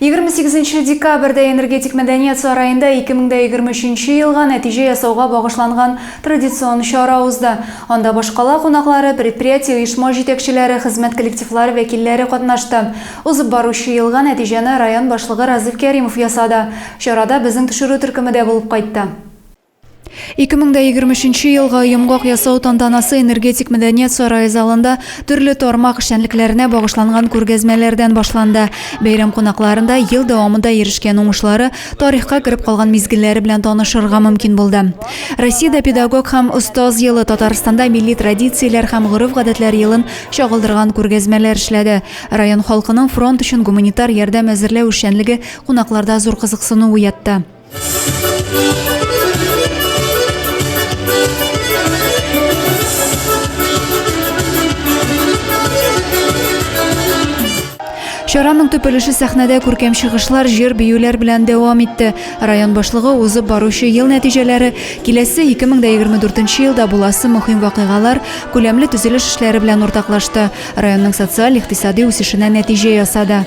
28 декабрьдә энергетик мәдәният сараенда 2023 елга нәтиҗә ясауга багышланган традицион чара узды. Анда башкала кунаклары, предприятие оешма җитәкчеләре, хезмәт коллективлары вәкилләре катнашты. Узып баручы елга нәтиҗәне район башлыгы Разыйф Кәримов ясады. Чарада безнең төшерү төркеме дә булып кайтты. 2023 елга йомгак ясау тантанасы энергетик мәдәният сарае залында төрле тармак эшчәнлекләренә багышланган күргәзмәләрдән башланды. Бәйрәм кунакларында ел дәвамында ирешкән уңышлары, тарихка кереп калган мизгелләре белән танышырга мөмкин булды. Россиядә педагог һәм остаз елы, Татарстанда милли традицияләр һәм гореф-гадәтләр елын чагылдырган күргәзмәләр эшләде. Район халкының фронт өчен гуманитар ярдәм әзерләү эшчәнлеге кунакларда зур кызыксыну уятты. Чараның төп өлеше сәхнәдә күркәм чыгышлар, җыр, биюләр белән дәвам итте. Район башлыгы узып баручы ел нәтиҗәләре, киләсе 2024 елда буласы мөһим вакыйгалар, күләмле төзелеш эшләре белән уртаклашты. Районның социаль-икътисади үсешенә нәтиҗә ясады.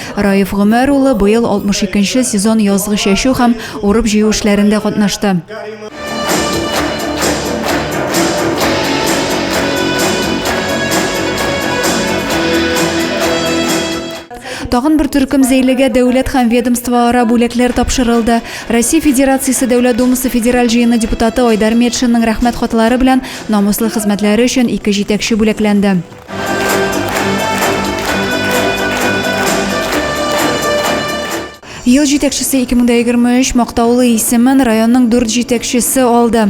Раиф Гомәр улы быел 62 нче сезон язгы чәчү һәм урып-җыю эшләрендә катнашты. Тагын бер төркем зәйлегә дәүләт һәм ведомствоара бүләкләр тапшырылды. Россия Федерациясе Дәүләт Думасы федераль җыены депутаты Айдар Метшинның рәхмәт хатлары белән намуслы хезмәтләре өчен ике җитәкче бүләкләнде. Ел җитәкчесе 2023 мактаулы исемен районның дүрт җитәкчесе алды.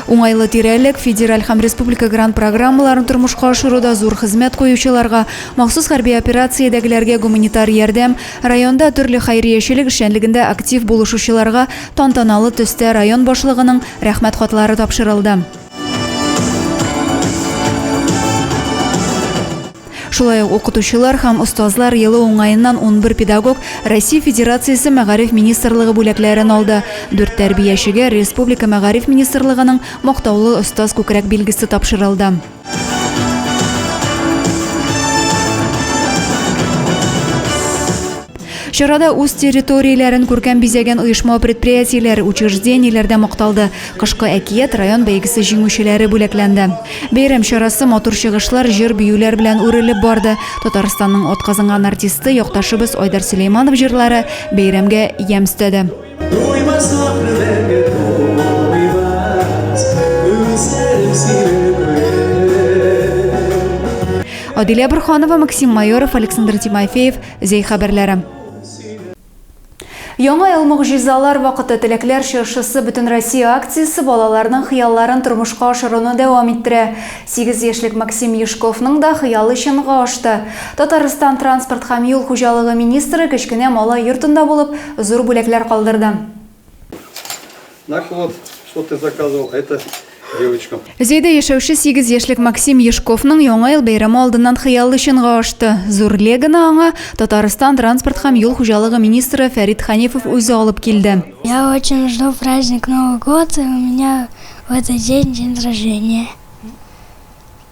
Уңайлы тирәлек, федераль һәм республика грант программаларын тормышка ашыруда зур хезмәт куючыларга, махсус хәрби операциядәгеләргә гуманитар ярдәм, районда төрле хәйриячелек эшчәнлегендә актив булышучыларга тантаналы төстә район башлыгының Рәхмәт хатлары тапшырылды. Шулай ук укытучылар һәм остазлар елы уңаеннан унбер педагог Россия Федерациясе Мәгариф министрлыгы бүләкләрен алды. Дүрт тәрбиячегә республика Мәгариф министрлыгының Мактаулы остаз күкрәк билгесе тапшырылды. Чарада үз территорияләрен күркәм бизәгән оешма-предприятиеләр, учреждениеләр дә макталды. Кышкы әкият, район бәйгесе җиңүчеләре бүләкләнде. Бәйрәм чарасы матур чыгышлар, җыр-биюләр белән үрелеп барды. Татарстанның атказанган артисты, якташыбыз Айдар Сөләйманов җырлары бәйрәмгә ямь өстәде. Адилә Борһанова, Максим Майоров, Александр Тимофеев. Зәй хәбәрләре. Яңа ел могҗизалар вакыты теләкләр чыршысы Бөтенроссия акциясе балаларның хыялларын тормышка ашыруны дәвам иттерә. Сигез яшьлек Максим Юшковның да хыялы чынга ашты. Татарстан транспорт һәм юл хуҗалыгы министры кечкенә малай йортында булып, зур бүләкләр калдырды. Наклад, что ты заказывал, это девочкам. Зәйдә яшәүче 8 яшьлек Максим Ешковның яңа ел бәйрәме алдыннан хыялы чынга ашты. Зур легоны аңа Татарстан транспорт һәм юл хуҗалыгы министры Фәрит Ханифов үзе алып килде. Я очень жду праздник Новый год, и у меня в этот день день рождения.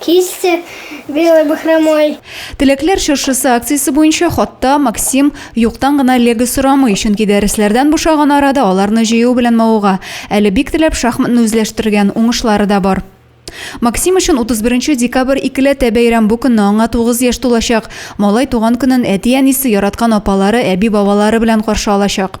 Кисте белый бахромой. Теләкләр чыршысы акциясе буенча хатта Максим юктан гына лего сорамый, чөнки дәресләрдән бушаган арада аларны җыю белән мавыга. Әле бик теләп шахматны үзләштергән, уңышлары да бар. Максим өчен 31 декабрь икеләтә бәйрәм, бу көнне аңа 9 яшь тулачак. Малай туган көнен әти-әнисе, яраткан апалары, әби-бабалары белән каршы алачак.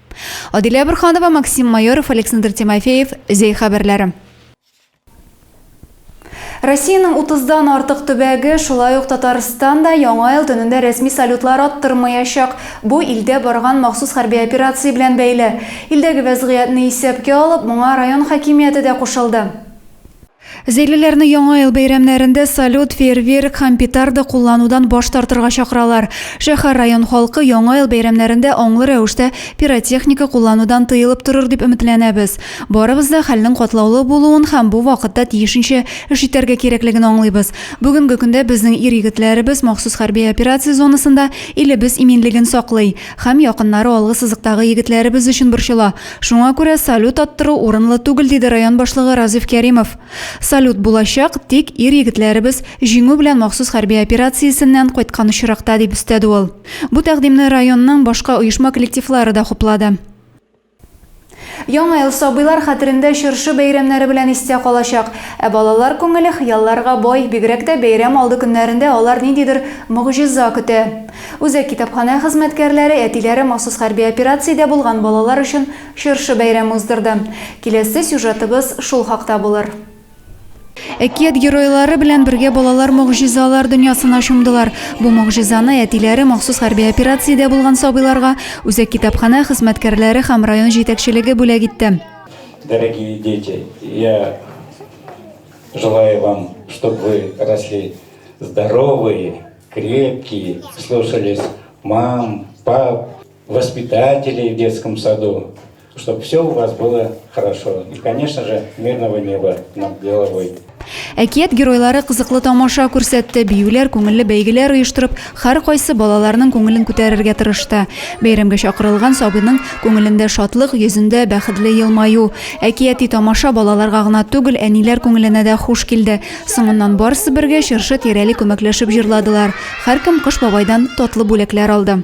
Адилә Борханова, Максим Майоров, Александр Тимофеев, Зәй хәбәрләре. Россиянең 30-дан артык төбәге, шулай ук Татарстан да Яңа ел төнендә рәсми салютлар аттырмаячак. Бу илдә барган махсус хәрби операция белән бәйле. Илдәге вәзгыятьне исәпкә алып, моңа район хакимияте дә кушылды. Зәйлеләрне Яңа ел бәйрәмнәрендә салют, фейерверк һәм петарда кулланудан баш тартырга чакыралар. Шәһәр, район халкы Яңа ел бәйрәмнәрендә аңлы рәвештә пиротехника кулланудан тыелып торыр дип өметләнәбез. Барыбыз да хәлнең катлаулы булуын һәм бу вакытта тиешенчә эш итәргә кирәклеген аңлыйбыз. Бүгенге көндә безнең ир-егетләребез махсус хәрби операция зонасында илебез иминлеген саклый. Һәм якыннары алгы сызыктагы егетләребез өчен борчыла. Шуңа күрә салют аттыру урынлы түгел, диде район башлыгы Разиф Кәримов. Салют булачак, тик ир-егетләребез Җиңү белән махсус хәрби операциясеннән кайткан очракта, дип өстәде ул. Бу тәкъдимне районның башка оешма коллективлары да хуплады. Яңа ел сабыйлар хәтерендә чыршы бәйрәмнәре белән истә калачак. Ә балалар күңеле хыялларга бай, бигрәк тә бәйрәм алды көннәрендә алар ниндидер могҗиза көтә. Үзәк китапханә хезмәткәрләре әтиләре махсус хәрби операциядә булган балалар өчен чыршы бәйрәме уздырды. Киләсе сюжетыбыз шул хакта булыр. Әкият геройлары белән бергә балалар могҗизалар дөньясына чумдылар. Бу могҗизаны әтиләре махсус хәрби операциядә булган сабыйларга үзәк китапханә хезмәткәрләре һәм район җитәкчелеге бүләк итте. Дорогие дети, я желаю вам, чтоб вы росли здоровые, крепкие, слушались мам, пап, воспитателей в детском саду, чтобы все у вас было хорошо. И, конечно же, мирного неба над головой. Әкият геройлары кызыклы тамаша күрсәтте, биюләр, күңелле бәйгеләр оештырып, һәр кайсы балаларның күңелен күтәрергә тырышты. Бәйрәмгә чакырылган сабыйның күңелендә шатлык, йөзендә бәхетле елмаю. Әкияти тамаша балаларга гына түгел, әниләр күңеленә дә хуш килде. Соңыннан барысы бергә чыршы тирәли күмәкләшеп җырладылар. Һәркем Кыш бабайдан татлы бүләкләр алды.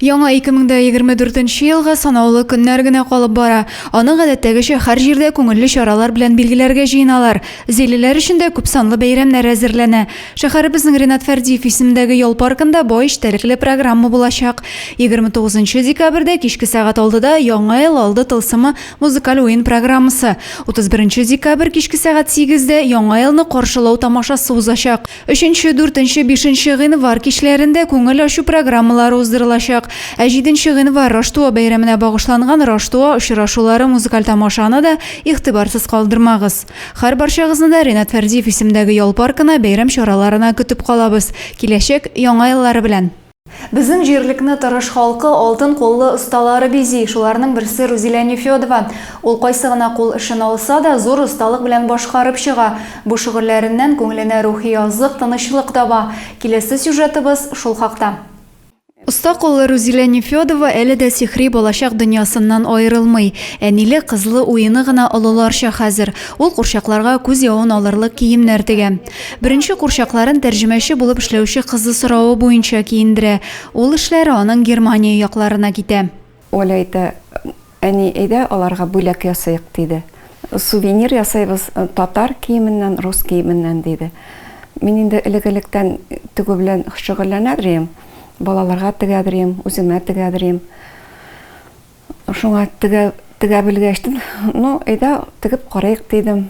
Яңа 2024 елга санаулы көннәр генә калып бара. Аны гадәттәгечә һәр җирдә күңелле чаралар белән билгеләргә җыеналар. Зилиләр өчен дә күпсанлы бәйрәмнәр әзерләнә. Шәһәребезнең Ренат Фәрдиев исемендәге ял паркында бай эчтәлекле программа булачак. 29 декабрьдә кичке сәгать алтыда Яңа ел алды тылсымы музыкаль уен программасы, 31 декабрь кичке сәгать сигездә Яңа елны каршылау тамашасы узачак. Өченче, дүртенче, бишенче гыйнвар кичләрендә күңел ачу программалары уздырылачак. Ә җиденче гыйнвар Раштуа бәйрәменә багышланган Раштуа очрашулары музыкаль тамашаны да игътибарсыз калдырмагыз. Хәр барчагызны да Ренат Фәрдиев исемендәге ял паркына бәйрәм чараларына көтеп калабыз. Киләчәк, яңа еллары белән! Безнең җирлекне тырыш халкы, алтын куллы осталары бизи. Шуларның берсе Рузилә Нефёдова. Ул кайсы гына кул эшен алса да, зур осталык белән башкарып чыга. Бу шөгыльләреннән күңеленә рухи азык, тынычлык таба. Киләсе сюжетыбыз шул хакта. Оста куллы Рузилә Нефёдова әле дә сихри балачак дөньясыннан аерылмый. Әниле-кызлы уены гына олыларча хәзер. Ул курчакларга күз явын алырлык киемнәр тегә. Беренче курчакларын тәрҗемәче булып эшләүче кызы соравы буенча киендерә. Ул эшләре аның Германия якларына китә. Оля әйтә, Әни, әйдә, аларга бүләк ясыйк, диде. Сувенир ясыйбыз, татар киеменнән, рус киеменнән, диде. Мин инде элек-электән тегү белән шөгыльләнә дер идем. Балаларга тегә дер идем, үземә тегә дер идем. Шуңа тегә, тегә белгәч, ну, әйдә, тегеп карыйк, дидем.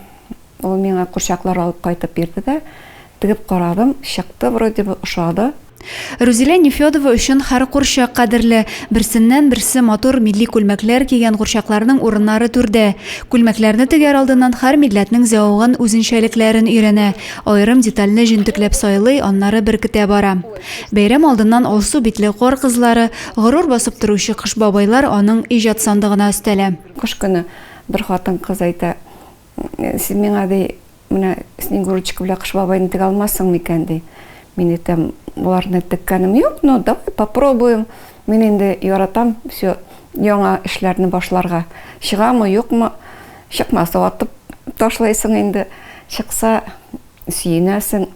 Ул миңа курчаклар алып кайтып бирде дә, тегеп карадым, чыкты, вроде бы, ошады. Рузилә Нефёдова өчен һәр курчак кадерле. Берсеннән-берсе матур милли күлмәкләр кигән курчакларның урыннары түрдә. Күлмәкләрне тегәр алдыннан һәр милләтнең зәвыгын, үзенчәлекләрен өйрәнә. Аерым детальне җентекләп сайлый, аннары беркетә бара. Бәйрәм алдыннан алсу битле кар кызлары, горур басып торучы кыш бабайлар аның иҗат сандыгына өстәлә. Кыш көне бер хатын-кыз әйтә, Син миңа, ди, менә Снегурочка белән Кыш бабайны тегә алмассың микән? ди. Мин әйтәм, Боларны теккәнем юк, но давай попробуем. Мин инде яратам все яңа эшләрне башларга. Чыгамы, юкмы, чыкмаса, атып ташлыйсың инде, чыкса, сөенәсең.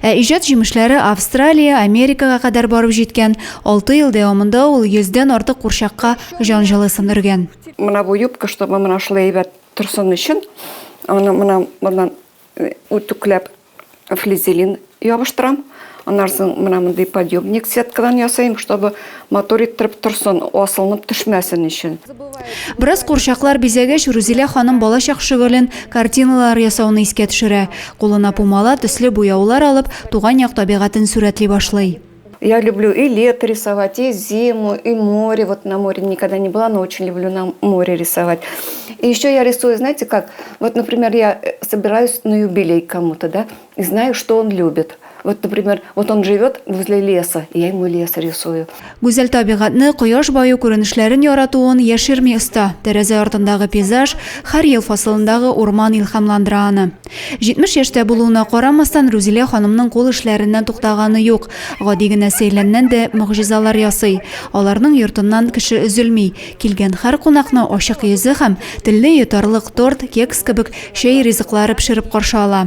Ә иҗат җимешләре Австралия, Америкага кадәр барып җиткән. Алты ел дәвамында ул йөздән артык курчакка җан җылысын өргән. Менә бу юбка, чтобы менә шулай әйбәт торсын өчен, аны менә моннан үтүкләп флизелин ябыштырам. Аннан соң менә мондый подъемник сеткадан ясыйм, чтобы матур иттереп торсын, асылынып төшмәсен өчен. Бераз курчаклар бизәгәч, Рузилә ханым балачак шөгылен, картиналар ясауны искә төшерә. Кулына пумала, төсле буяулар алып, туган як табигатен сурәтли башлый. Я люблю и лето рисовать, и зиму, и море. Вот на море никогда не была, но очень люблю на море рисовать. И еще я рисую, знаете как? Вот, например, я э, собираюсь на юбилей кому-то, да? И знаю, что он любит. Вот, например, вот он живет возле леса, и я ему лес рисую. Гүзәл табигатьне, кояш баю күренешләрен яратуын яшерми оста. Тәрәзә артындагы пейзаж, һәр ел фасылындагы урман илһамландыра аны. 70 яшьтә булуына карамастан, Рузилә ханымның кул эшләреннән туктаганы юк. Гади генә сәйләннән дә мөгъҗизалар ясый. Аларның йортыннан кеше өзелми. Килгән һәр кунакны ачык йөзе һәм телне йотарлык торт, кекс кебек чәй ризыклары пешереп каршы ала.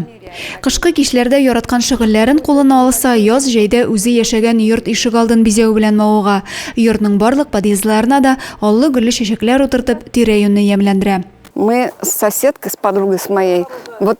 Кышкы кичләрдә яраткан шөгыльләрен кулына алса, яз-җәйдә үзе яшәгән йорт ишегалдын бизәү белән мавыга, йортның барлык подъездларына да аллы-гөлле чәчәкләр утыртып, тирә-юньне ямьләндерә. Мы с соседкой, с подругой с моей, вот